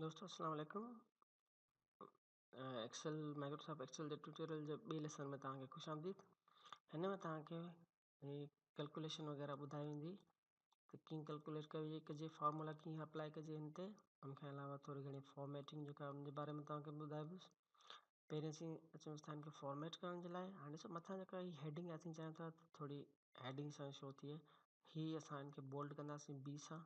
دوستو السلام عليڪم ايڪسل مائڪروسافٽ ايڪسل جي ٽيوٽوريل جي ٻي ليسن ۾ توهان کي خوش آمديد هن ۾ توهان کي ڪلڪوليشن وغيره ٻڌائي ويندي ته ڪيئن ڪلڪوليٽ ڪئي ڪجي فارمولا ڪيئن اپلائي ڪجي هن تي ان کان علاوه ٿوري گهڻي فارميٽنگ جيڪا ان جي باري ۾ توهان کي ٻڌايبس پهرين اسين اچون ٿا هن کي فارميٽ ڪرڻ جي لاء هاڻي ڏسو مٿان جيڪا هي هيڊنگ آهي اسين چاهيون ٿا ٿوري هيڊنگ سان شو ٿئي هي اسان هن کي بولڊ ڪنداسين بي سان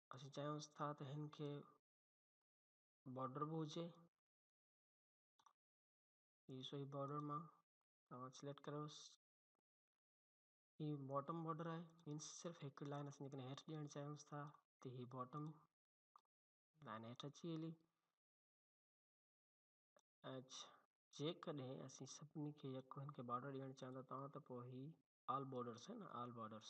اسين چاهيونس ٿا ته هن کي بارڊر به هجي هي سوئي بارڊر مان توهان سليڪٽ ڪريوس هي باٽم بارڊر آهي مينس صرف هڪ لائن اسين جيڪڏهن هيٺ ڏيڻ چاهيونس ٿا ته هي باٽم لائن هيٺ اچي هلي ۽ جيڪڏهن اسين سڀني کي يڪو هن کي بارڊر ڏيڻ چاهيون ٿا تون ته پوء هي آل بارڊرس آهي نه آل بارڊرس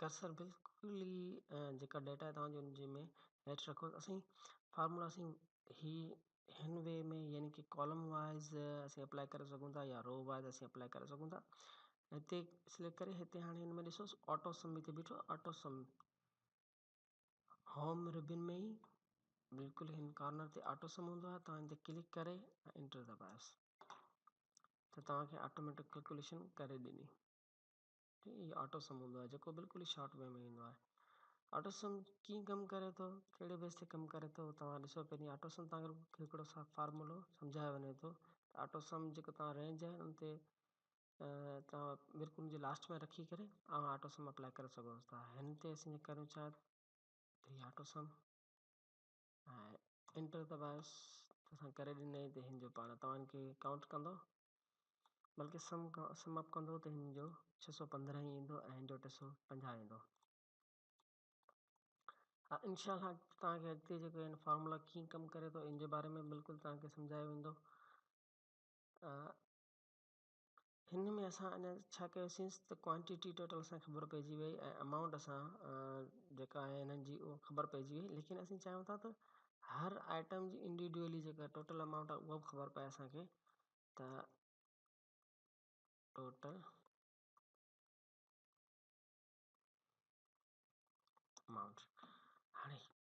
ڪرسر بلڪل ئي جيڪا ڊيٽا توهان جو ان جي ۾ هيٺ رکو اسين فارمولا اسين هي هن وي ۾ يعني ڪي ڪالم وائيز اسين اپلائي ڪري سگهون ٿا يا رو وائيز اسين اپلائي ڪري سگهون ٿا هتي سليڪٽ ڪري هتي هاڻي هن ۾ ڏسوس آٽو سم هتي بيٺو آهي آٽو سم هوم ربن ۾ ئي بلڪل هن ڪارنر تي آٽو سم هوندو آهي توهان هن تي ڪلڪ ڪري انٽر دٻايوس ته توهان کي آٽوميٽڪ ڪلڪوليشن ڪري ڏني ٺيڪ هي آٽوسم هوندو آهي جيڪو بلڪل ئي شارٽ وي ۾ ايندو آهي آٽوسم ڪيئن ڪم ڪري ٿو ڪهڙي بيس تي ڪم ڪري ٿو توهان ڏسو پهرين آٽوسم تان اگر هڪڙو سا فارمولو سمجهايو وڃي ٿو آٽوسم جيڪو توهان رينج آهي ان تي توهان بلڪل ان جي لاسٽ ۾ رکي ڪري اوهان آٽوسم اپلائي ڪري سگهو ٿا هن تي اسين ڪريون ڇا ٿري آٽوسم ھا انٽر ته باس توسان ڪري ڏنئين ته ھن جو پاڻ توھان کي ڪائونٽ ڪندو بلڪه سم سم اپ ڪندو ته ھن جو ڇھ سؤ پندرهن ئي ايندو ۽ ھن جو ٽي سؤ پنجاهه ايندو ھا انشاء الله توھان کي اڳتي جيڪو ھن فارمولا ڪيئن ڪم ڪري ٿو ان جي باري ۾ بلڪل توھان کي سمجھايو ويندو هن ۾ اسان اڃا ڇا ڪيوسيس ته ڪوانٽٽي ٽوٽل اسان خبر پئجي وئي ۽ امائونٽ اسان جيڪا آهي هنن جي هو خبر پئجي وئي ليڪن اسين چاهيون ٿا ته هر آئٽم جي انڊيوڊوئلي جيڪا ٽوٽل امائونٽ آهي اها به خبر پئي اسانکي ته ٽوٽل امائونٽ هاڻي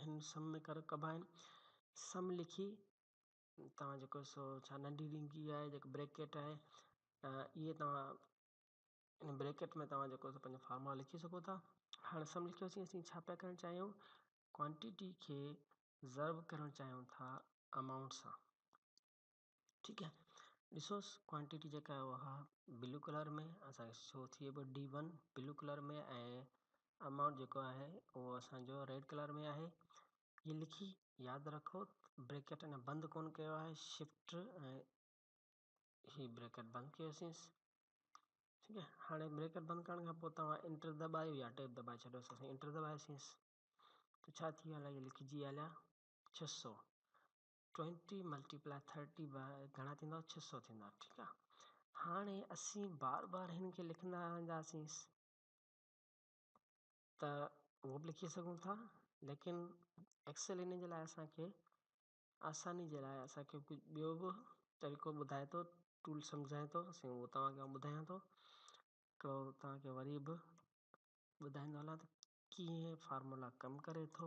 هن سم ۾ ڪر ڪبا آهن سم لکي توهان جيڪو سو ڇا ننڍي ڏينگي آهي جيڪو بريڪٽ آهي اهي توهان ان بريڪٽ ۾ توهان جيڪو سو پنهنجو فارمولا لکي سگهو ٿا هاڻ سم لکيوسين اسين ڇا پيا ڪرڻ چاهيون ڪوانٽيٽي کي ضرب ڪرڻ چاهيون ٿا امائونٽ سان ٺيڪ آهي ڏسوس ڪوانٽٽي جيڪا آهي اها بلو ڪلر ۾ اسانکي شو ٿئي پئي D one blue colour ۾ ۽ amount جيڪو آهي اهو اسانجو ريڊ ڪلر ۾ آهي ھي لکي ياد رکو بريڪٽ اڃا بند ڪون ڪيو آهي شفٽ ۽ ھي بريڪٽ بند ڪيوسيس ٺيڪ آهي هاڻي بريڪٽ بند ڪرڻ کان پوء توهان انٽر دٻايو يا ٽيب دٻائي ڇڏيوس اسين انٽر دٻايوسيس ته ڇا ٿي ويو الاء لکجي ويو هليا ڇهه سؤ ٽوئنٽي ملٽي پلاء ٿرٽي به گهڻا ٿيندا ڇهه سؤ ٿيندا ٺيڪ آ هاڻي اسين بار بار هن کي لکندا رهنداسين ته اهو به لکي سگهون ٿا ليڪن ايڪسل ان جي لاء اسان کي آساني جي لاء اسان کي ڪجهه ٻيو به طريقو ٻڌائي ٿو ٽول سمجهائي ٿو سو اهو توهان کي آئون ٻڌايان ٿو ڪو توهان کي وري به ٻڌائيندو هلان ته ڪيئن فارمولا ڪم ڪري ٿو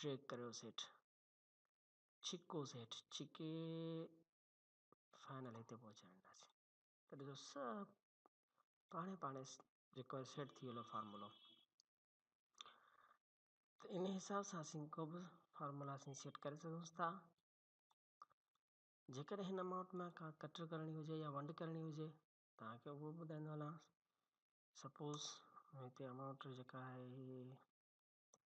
ڊريگ ڪريوس هيٺ. ڇڪوس هيٺ ڇڪي فائنل هتي پهچي وينداسين. ته ڏسو سڀ پاڻي پاڻي جيڪو آهي سيٽ ٿي ويل آهي فارمولو. ته ان حساب سان اسين ڪو به فارمولا اسين سيٽ ڪري سگهوس ٿا. جيڪڏهن هن امائونٽ مان ڪا ڪٽر ڪرڻي هجي يا ونڊ ڪرڻي هجي توهان کي اهو ٻڌائيندو هلان سپوز هتي امائونٽ جيڪا آهي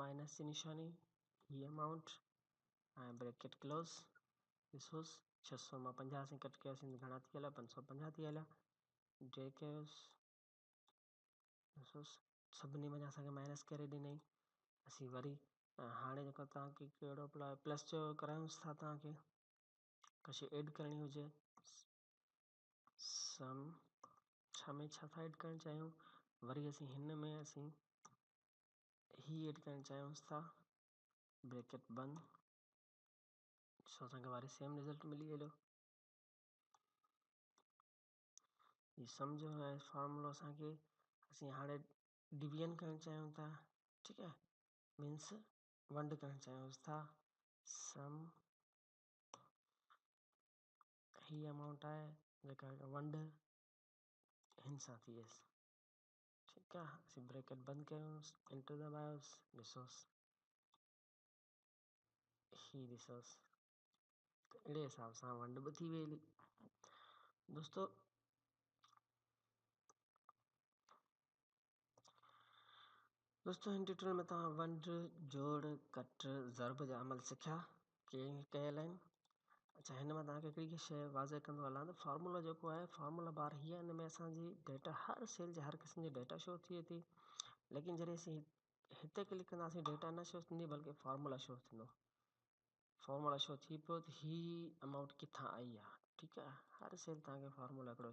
مائنس جي نشاني، هي امائونٽ ۽ بريڪيٽ ڪلوز، ڏسوس ڇهه سؤ مان پنجاهه اسين ڪٽ ڪياسين ته گهڻا ٿي هليا، پنج سؤ پنجاهه ٿي هليا، ڊريگ ڪيوس، ڏسوس سڀني منجهان اسان کي مائنس ڪري ڏنئي، اسين وري هاڻي جيڪو توهان کي ڪهڙو اپلاء پلس جو ڪرايونس ٿا توهان کي ڪشي ايڊ ڪرڻي هجي سم ڇا ۾ ڇا ٿا ايڊ ڪرڻ چاهيون وري اسين هن ۾ اسين هي ايڊ ڪرڻ چاهيونس ٿا بريڪٽ بند ڏسو اسان کي واري سيم رزلٽ ملي ويو هي سمجهو هي فارمولو اسان کي اسين هاڻي ڊويزن ڪرڻ چاهيون ٿا ٺيڪ آهي مينس ونڊ ڪرڻ چاهيونس ٿا سم هي امائونٽ آهي جيڪا ونڊ هن سان ٿي ويس ٺيڪ آ اسين بريڪٽ بند ڪيوس انٽر دٻايوس ڏسوس هي ڏسوس اهڙي حساب سان ونڊ به ٿي وئي هلي دوستو دوستو هن ٽيوٽوريل ۾ توهان ونڊ جوڙ ڪٽ ضرب جا عمل سکيا چينج ڪيل آهن اڇا هن مان تاکي هڪڙي ٻي شي واضح ڪندو هلان ته فارمولا جيڪو آهي فارمولا بار هي آهي ان ۾ اسانجي ڊيٽا هر سيل جا هر قسم جا ڊيٽا شو ٿئي ٿي ليڪن جڏهن اسين هتي ڪلڪ ڪنداسين ڊيٽا نه شو ٿيندي بلڪه فارمولا شو ٿيندو فارمولا شو ٿي پيو ته هي امائونٽ ڪٿان آئي آهي ٺيڪ آهي هر سيل تاکي فارمولا هڪڙو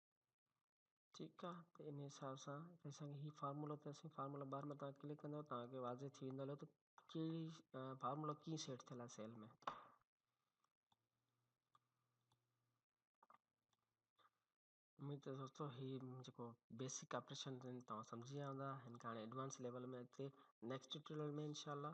ٺيڪ آ ته ان حساب سان ته اسانکي هي فارمولو ته سائين فارمولا بار ۾ تان ڪلڪ ڪندو تانکي واضح ٿي ويندو هلو ته ڪهڙي فارمولو ڪيئن سيٽ ٿيل آ سيل ۾. اميد ته دوستو هي جيڪو بيسڪ آپريشن توهان سمجهي ويا هوندا هن کان هاڻي ايڊوانس ليول ۾ اڳتي نيڪسٽ ٽيوٽوريل ۾ انشاء الله